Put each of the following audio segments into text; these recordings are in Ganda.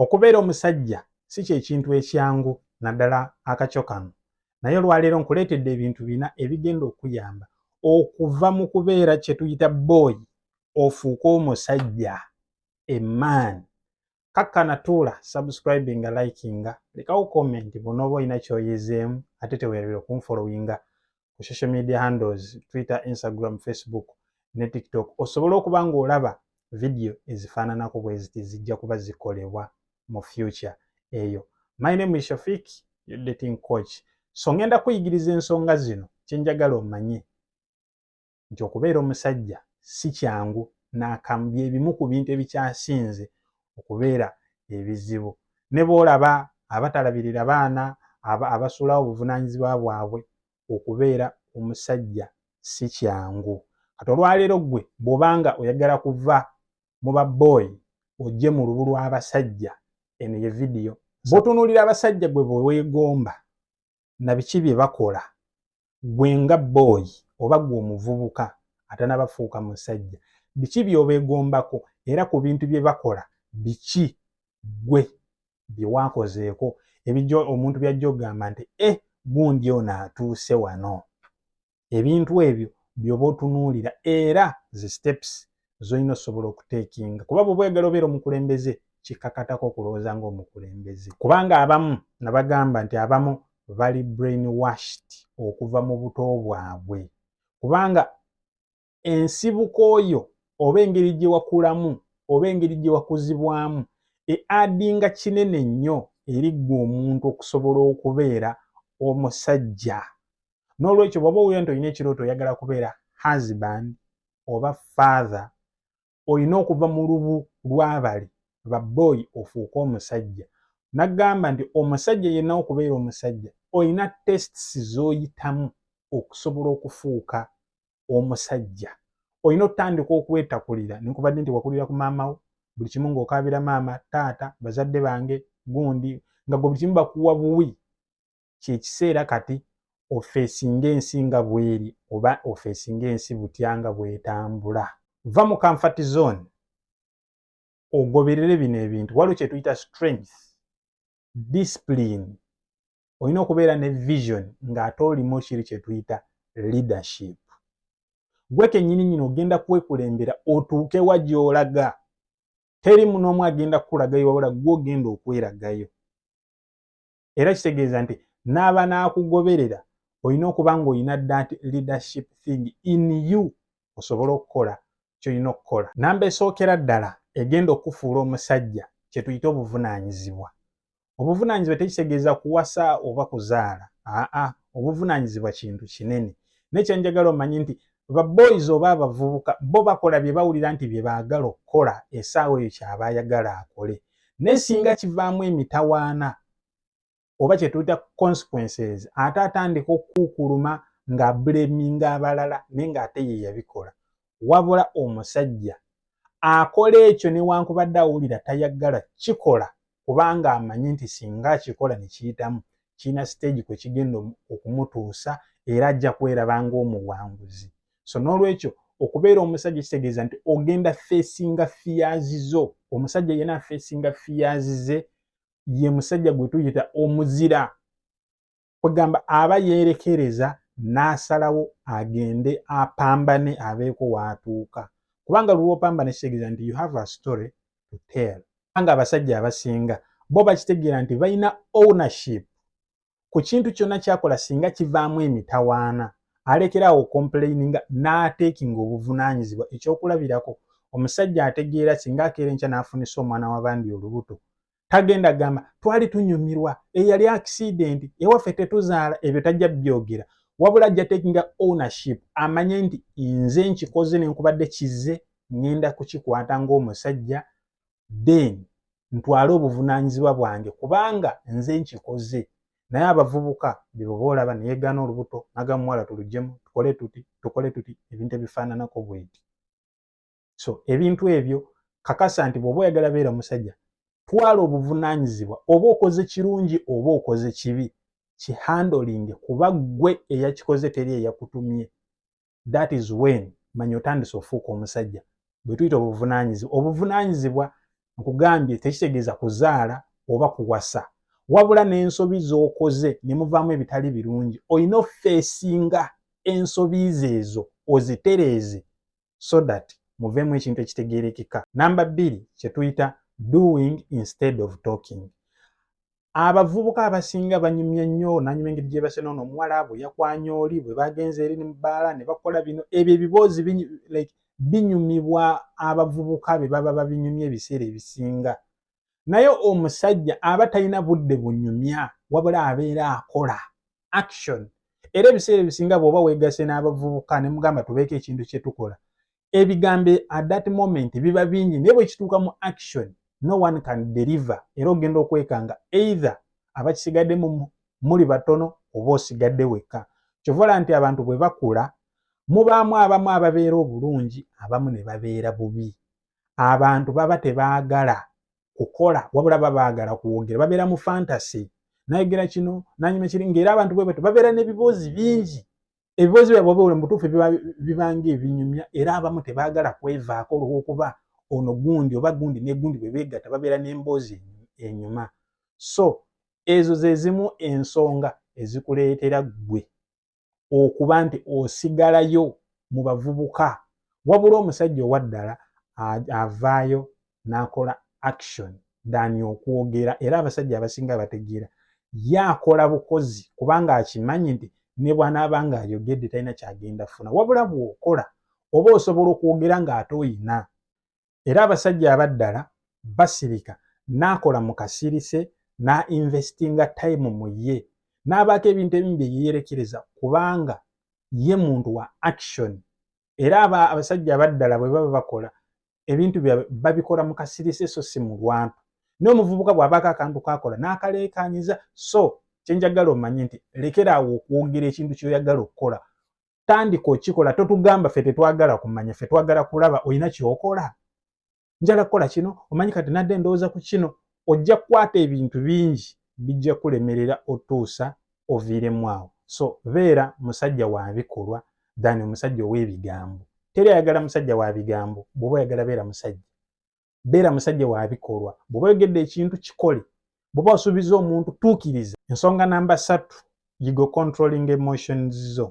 Okubeera omusajja si kye kintu ekyangu naddala akakyo kano naye olwaleero nkuleetedde ebintu bina ebigenda okuyamba okuva mu kubeera kye tuyita bbooyi ofuuke omusajja emaani. Kakkana tuula subscribinga likinga lekawo komenti bw'onooba olina ky'oyizeemu ate teweerabira okunfolowinga ku social media handles twitter instagram facebook ne tiktok osobola okuba ng'olaba vidiyo ezifaananako bwe ziti zijja kuba zikolebwa mu future eyo my name is shafik your dating coach so ngenda kuyigiriza ensonga zino kyenjagala omanye nti okubeera omusajja si kyangu n'akamu bye bimu ku bintu ebikyasinze okubeera ebizibu ne bw'olaba abatalabirira baana abasuulawo obuvunaanyizibwa bwabwe okubeera omusajja si kyangu kati olwaleero ggwe bw'obanga oyagala kuva mu ba boy ojje mu lubu lw'abasajja eno ye vidiyo bw'otunuulira abasajja gwe bwe weegomba na biki bye bakola gwe nga booyi oba gwe omuvubuka atanabafuuka musajja biki byobegombako era ku bintu bye bakola biki gwe bye wakozeeko ebijo omuntu byajja okugamba nti e eh, gundi ono atuuse wano ebintu ebyo byoba otunuulira era zi steps zolina osobola okuteekinga kuba bwoba oyagala obeera omukulembeze kikakatako okulowooza ngaomukulembeze kubanga abamu nabagamba nti abamu bali brain washed okuva mu buto bwabwe kubanga ensibuko yo oba engeri gye wakulamu oba engeri gye wakuzibwamu eadinga kinene nnyo eri ggwe omuntu okusobola okubeera omusajja n'olwekyo bwaba owulira nti olina ekirooto oyagala kubeera husband oba father olina okuva mu lubu lw'abali baboyi ofuuke omusajja nagamba nti omusajja yenna okubeera omusajja olina tests z'oyitamu okusobola okufuuka omusajja olina otandika okwetakulira nenkubadde nti wakulira ku maama wo buli kimu ng'okaabira maama taata bazadde bange gundi nga gwe buli kimu bakuwa buwi kyekiseera kati ofeesinga ensi nga bweri oba ofeesinga ensi butya nga bwetambula va mu comfort zone ogoberere bino ebintu waliwo kyetuyita strength discipline olina okubeera ne vision ng'ate olimu kiri kyetuyita leadership gwe kenyini nyini ogenda kwekulembera otuuke wa gyolaga teri munoomu agenda kukulagayo wabula gwe ogenda okweragayo era kitegeeza nti n'aba n'akugoberera olina okuba ng'olina that leadership thing in you osobole okukola kyolina okukola namba esookera ddala egenda okukufuula omusajja kyetuyita obuvunaanyizibwa obuvunaanyizibwa tekitegeeza kuwasa oba kuzaala aa obuvunaanyizibwa kintu kinene naye kyenjagala omanye nti ba boys oba abavubuka bo bakola bye bawulira nti bye baagala okukola esaawa eyo kyaba ayagala akole naye singa kivaamu emitawaana oba kye tuyita consequences ate atandika okukukuluma ng'ableminga abalala naye ng'ate ye yabikola wabula omusajja akola ekyo newankubadde awulira tayagala kikola kubanga amanyi nti singa akikola ne kiyitamu kirina siteegi kwe kigenda okumutuusa era ajja kweraba ng'omuwanguzi so n'olwekyo okubeera omusajja kitegeeza nti ogenda feesinga fiyaazi zo omusajja yena afeesinga fiyaazi ze ye musajja gwe tuyita omuzira kwegamba aba yeerekereza n'asalawo agende apambane abeeko waatuuka kubanga lwopambana ekitegeeza nti you have a story to tell kubanga abasajja abasinga bo bakitegeera nti balina ownership ku kintu kyonna kyakola singa kivaamu emitawaana alekeraawo okompuleyininga n'ateekinga obuvunaanyizibwa ekyokulabirako omusajja ategeera singa akeera enkya n'afunisa omwana w'abandi olubuto tagenda gamba twali tunyumirwa eyali accident ewaffe tetuzaala ebyo tajja byogera wabula ajja takinga ownership amanye nti nze nkikoze nenkubadde kize ngenda kukikwata ngaomusajja then ntwale obuvunanyizibwa bwange kubanga nze nkikoze naye abavubuka beboba olaba neyegaana olubuto nagamuwala tulujemu tukole tuti tukole tuti ebintu ebifaananako bwenti so ebintu ebyo kakasa nti bwoba oyagala beera musajja twala obuvunanyizibwa oba okoze kirungi oba okoze kibi kihandolinge kuba ggwe eyakikoze teri eyakutumye that is when manya otandise ofuuka omusajja bwetuyita obuvunanyizibwa obuvunanyizibwa nkugambye tekitegeeza kuzaala oba kuwasa wabula n'ensobi z'okoze ne muvaamu ebitali birungi olina ofeesinga ensobi ze ezo ozitereeze so that muveemu ekintu ekitegeerekeka. Namba bbiri kye tuyita doing instead of talking. Abavubuka abasinga banyumya nnyo nanyuma engeri gyebase noono omuwala bwe yakwanya oli bwe bagenze eri mu bbaala ne bakola bino ebyo ebiboozi like binyumibwa abavubuka be baba babinyumya ebiseera ebisinga naye omusajja aba talina budde bunyumya wabula abeera akola action era ebiseera ebisinga bwoba wegase n'abavubuka ne mugamba tubeeko ekintu kye tukola ebigambo at that moment biba bingi naye bwe kituuka mu action no one can deliver era ogenda okwekanga either abakisigadde mu muli batono oba osigadde wekka kyovola nti abantu bwe bakula mubaamu abamu ababeera obulungi abamu ne babeera bubi abantu baba tebaagala kukola wabula baba baagala kwogera babeera mu fantasy nayogera kino nanyuma kiri ngaera abantu bwe batyo babeera n'ebiboozi bingi ebiboozi byabwe oba oli mutuufu bibanga ebinyumya era abamu tebaagala kwevaako olwokuba ono gundi oba gundi ne gundi bwe beegatta babeera n'emboozi enyuma so ezo ze zimu ensonga ezikuleetera ggwe okuba nti osigalayo mu bavubuka wabula omusajja owa ddala avaayo n'akola action dani okwogera era abasajja abasinga bategeera ye akola bukozi kubanga akimanyi nti ne bwanaaba nga ayogedde talina kyagenda funa wabula bw'okola oba osobola okwogera ng'ate oyina era abasajja abaddala basirika n'akola mu kasirise n'ainvestinga time mu ye n'abaako ebintu ebimu bye yeerekereza kubanga ye muntu wa action era aba abasajja abaddala bwe baba bakola ebintu byabwe babikola mu kasirise so si mu lwampa naye omuvubuka bw'abaako akantu kaakola n'akaleekaanyiza so kye njagala omanye nti lekeraawo okwogera ekintu ky'oyagala okukola tandika okikola totugamba fe tetwagala kumanya fe twagala kulaba olina kyokola njala kukola kino omanyi kati nadde endowooza ku kino ojja kukwata ebintu bingi bijja kulemerera otuusa oviiremu awo so beera musajja wa bikolwa than omusajja ow'ebigambo teri ayagala musajja wa bigambo bw'oba oyagala beera musajja beera musajja wa bikolwa bw'oba oyogedde ekintu kikole bw'oba osuubiza omuntu tuukiriza ensonga namba ssatu yigo controlling emotions zo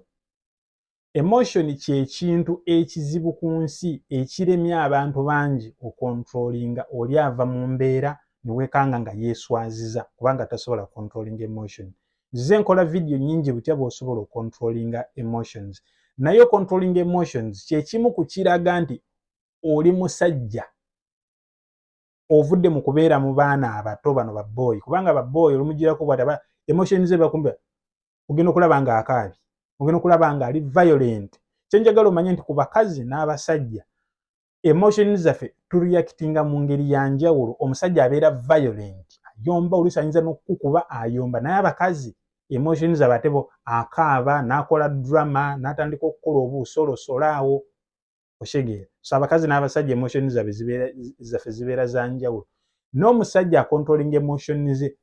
emotion kyekintu ekizibu ku nsi ekiremya abantu bangi okontrolinga oli ava mu mbeera newekanga nga yeeswaziza kubanga tasobola controlinga emotion nzize nkola vidiyo nyingi butya bwosobola okontrolinga emotions naye okontrolinga emotions kyekimu ku kiraga nti oli musajja ovudde mu kubeera mu baana abato bano babooyi kubanga babooyi olumugirako bwati aba emotion ze bakumbi ogenda okulaba nga akaabi ogenda okulaba nga ali violent kyenjagala omanye nti ku bakazi n'abasajja emotion zaffe tureactinga mu ngeri ya njawulo omusajja abeera violent ayomba oluusi ayinza n'okukukuba ayomba naye abakazi emotion zaba atebo akaaba n'akola drama n'atandika okukola obuusolosolaawo okitegeera so abakazi n'abasajja emotion zabe zaffe zibeera za njawulo n'omusajja akontrolinga emotion ze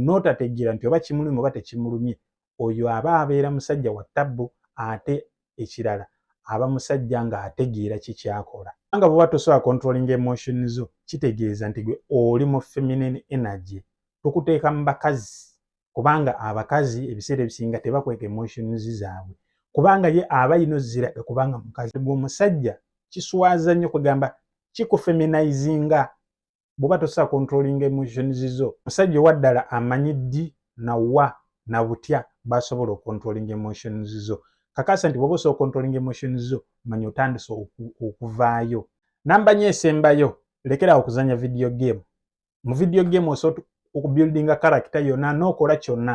n'otategeera nti oba kimulumi oba tekimulumye oyo aba abeera musajja wa tabbu ate ekirala aba musajja ng'ategeera kikyakola nga bwoba tosobola kontrolinga emotion zo kitegeeza nti gwe oli mu feminine energy tukuteeka mu bakazi kubanga abakazi ebiseera ebisinga tebakweka emotions zaabwe kubanga ye aba yino ziraga kubanga mukazi gwe omusajja kiswaza nnyo kwegamba kikufeminizinga bwoba tosobola controlling emotions zo musajja owa ddala amanyi ddi nawa na butya basobola ocontrolling emotions zo kakasa nti bwoba osobola ocontrolling emotions zo manya otandise okuvaayo namba nyo esembayo lekerawo okuzanya video game mu video game osobola okubuildinga karakita yonna n'okola kyonna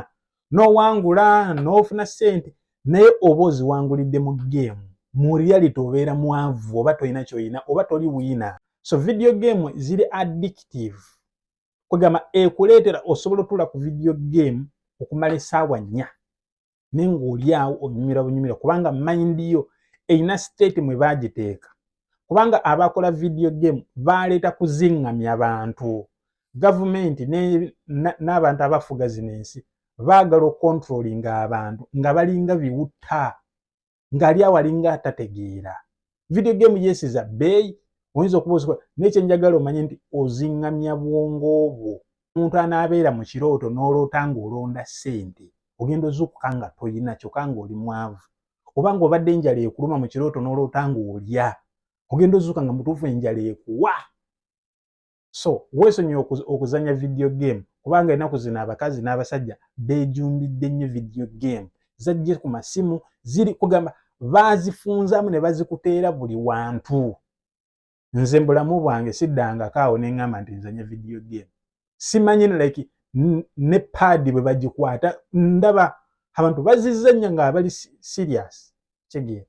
n'owangula n'ofuna ssente naye oba oziwangulidde mu geemu mu reality obeera mwavu oba tolina kyoyina oba toli wiina so video game ziri addictive kwegamba ekuleetera osobola otuula ku video game okumala esaawa nnya naye ng'olyawo onyumira bunyumira kubanga mayindi yo erina siteeti mwe baagiteeka kubanga abakola vidiyo gemu baaleeta kuzingamya bantu gavumenti n'abantu abafuga zino ensi baagala okontrolinga abantu nga balinga biwutta ng'ali awo alinga tategeera video game yeesiza bbeeyi oyinza okuba osikola naye kyenjagala omanye nti oziŋŋamya bwongo obwo omuntu anaabeera mu kirooto n'oloota ng'olonda ssente ogenda ozuukuka nga toyina kyokka ng'oli mwavu oba ng'obadde enjala ekuluma mu kirooto n'oloota ng'olya ogenda ozuuka nga mutuufu enjala ekuwa so weesonyiwe okuzanya video game kubanga enaku zino abakazi n'abasajja bejumbidde nnyo video game zajje ku masimu ziri kugamba bazifunzamu ne bazikuteera buli wantu nze mbulamu bwange siddangako awo ne ŋŋamba nti nzanya video game simanyi like ne paadi bwe bagikwata ndaba abantu bazizanya ng'abali serious kigee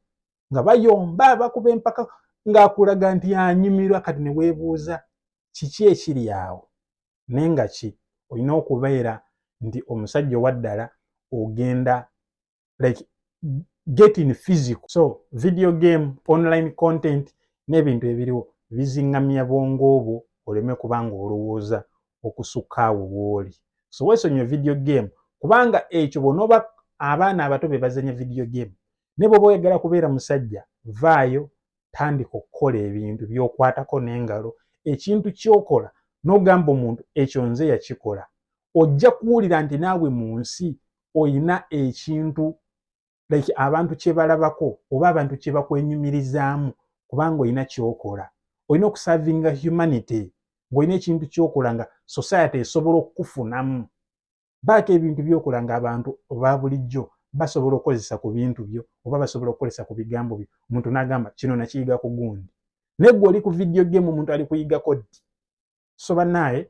nga bayomba bakuba empaka ng'akulaga nti anyumirwa kati ne weebuuza kiki ekiri awo naye nga ki olina okubeera nti omusajja owaddala ogenda like get in physical so video game online content n'ebintu ebiriwo bizingamya bwongo obwo oleme kubanga olowooza okusukka awo wooli so weesonyiwe video game kubanga ekyo bwonooba abaana abato be bazanya video game ne bwoba oyagala kubeera musajja vaayo tandika okukola ebintu byokwatako n'engalo ekintu kyokola n'ogamba omuntu ekyo nze yakikola ojja kuwulira nti naawe mu nsi olina ekintu like abantu kye balabako oba abantu kye bakwenyumirizaamu kubanga olina kyokola olina okusavinga humanity ng'olina ekintu kyokola nga society esobola okukufunamu baako ebintu byokola nga abantu oba bulijjo basobola okukozesa ku bintu byo oba basobola okukozesa ku bigambo byo omuntu nagamba kino nakiyiga ku gundi naye gwe oli ku vidiyo gemu omuntu ali kuyigako ddi so banaye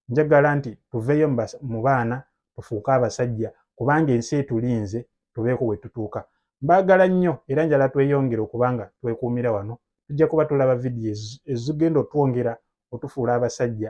njagala nti tuveeyo mu baana tufuuke abasajja kubanga ensi etulinze tubeeko we tutuuka mbaagala nnyo era njala tweyongere okubanga twekuumira wano tujja kuba tulaba vidiyo ezigenda otwongera otufuula abasajja